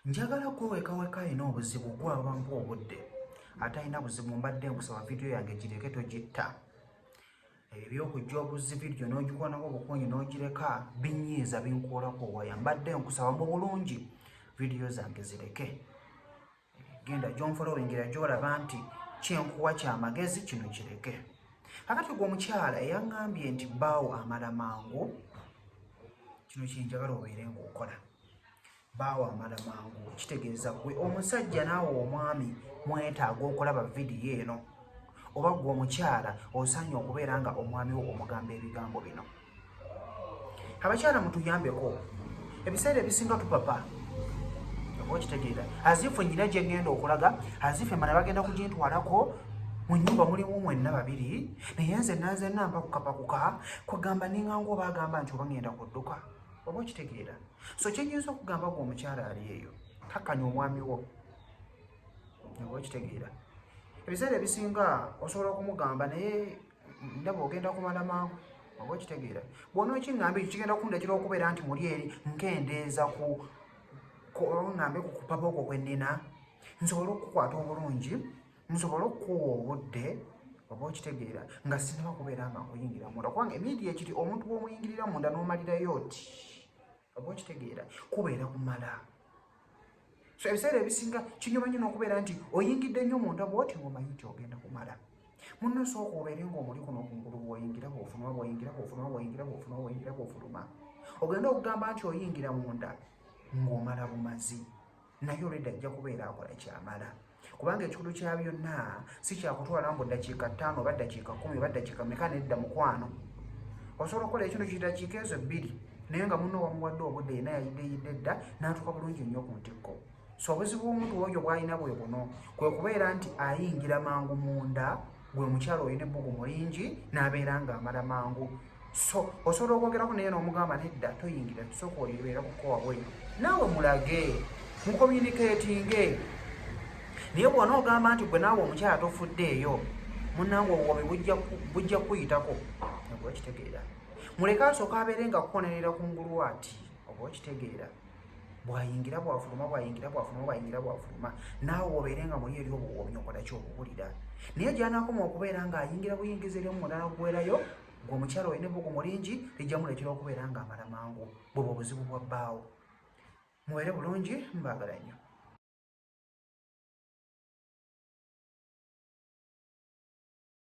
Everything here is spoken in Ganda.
njagala kwewekaweka alina obuzibu gwabampa obudde atalina buzibu mbadde nkusaba vidiyo yange gireke togitta ebyo byokujja obuzzi vidiyo n'ogikoonako obukunyi n'ogireka binyiiza binkuulako waya mbadde nkusaba mu bulungi vidiyo zange zireke genda gyonfolowingira gyolaba nti kyenkuwa kyamagezi kino kireke kakati gwe omukyala eyaŋambye nti baawo amala mangu kino kyenjagala obeere ngaokola baawo amala mangu kitegeeza gwe omusajja naawe omwami mwetaaga okulaba vidiyo eno oba gwe omukyala osaanye okubeera nga omwami wo omugamba ebigambo bino abakyala mutuyambeko ebiseera ebisinga tupapa okitegeera azifu enyina gyengenda okulaga azifu emana bagenda kugintwalako mu nyumba mulimu mwenna babiri naye nze nanze namba kukapakuka kwegamba ninganga oba agamba nti oba ngenda kudduka oba okitegeera so kyenyinza okugamba gwe omukyala ali eyo kakkanya omwami wo oba okitegeera ebiseera ebisinga osobola okumugamba naye ndaba ogenda kumala mangu oba okitegeera bwona okiŋŋamba ekyo kigenda kundagira okubeera nti muli eri nkendeeza ku kuŋŋambe ku kupapa okwo kwe nnina nsobole okukukwata obulungi nsobole okukuwa obudde oba okitegeera nga sinaba kubeera nga nkuyingira munda kubanga emiidi ekiri omuntu bw'omuyingirira munda n'omalirayo oti oba okitegeera kubeera kumala so ebiseera ebisinga kinyuma nyo nokubeera nti oyingidde nnyo munda bwoti ngaomanyi nti ogenda kumala munno sooka obeere ngaomuli kuno kungulu bwoyingira bwofunuma bwoyingira bwofunuma bwoyingira bwofunuma bwoyingira bwofuluma ogenda okugamba nti oyingira munda ngaomala bumazi naye olwedda ajja kubeera akola kyamala kubanga ekikulu kya byonna si kyakutwala mbu ddakiika ttaano oba ddakiika kumi oba ddakiika meka nedda mukwano osobola okukola ekino kidakiika ezo ebbiri naye nga muno wamuwadde obudde yena yayideyidde dda n'atuuka bulungi nnyo ku ntikko so obuzibu omuntu oyo bwalina bwe buno kwe kubeera nti ayingira mangu munda gwe mukyalo olina ebbugumu lingi n'abeera ng'amala mangu so osobola okwogerako naye n'omugamba nedda toyingira tusooka olibeera kukowa bwenyo naawe mulage mukomuniketinge naye bwona ogamba nti gwe naawe omukyala tofudde eyo munange obuwomi bujja kuyitako oba okitegeera muleke asooka abeere nga kukonerera ku ngulu ati oba okitegeera bwayingira bwafuluma bwayingira bwafuluma bwayingira bwafuluma naawe obeere nga muli eri obuwoomi okola kyokuwulira naye gyanakoma okubeera nga ayingira buyingiza eri omumulala okuwerayo gwe omukyala olina ebugu mulingi lijja muleetera okubeera nga amala mangu bwebwe obuzibu bwa bbaawo mubeere bulungi mbaagala nnyo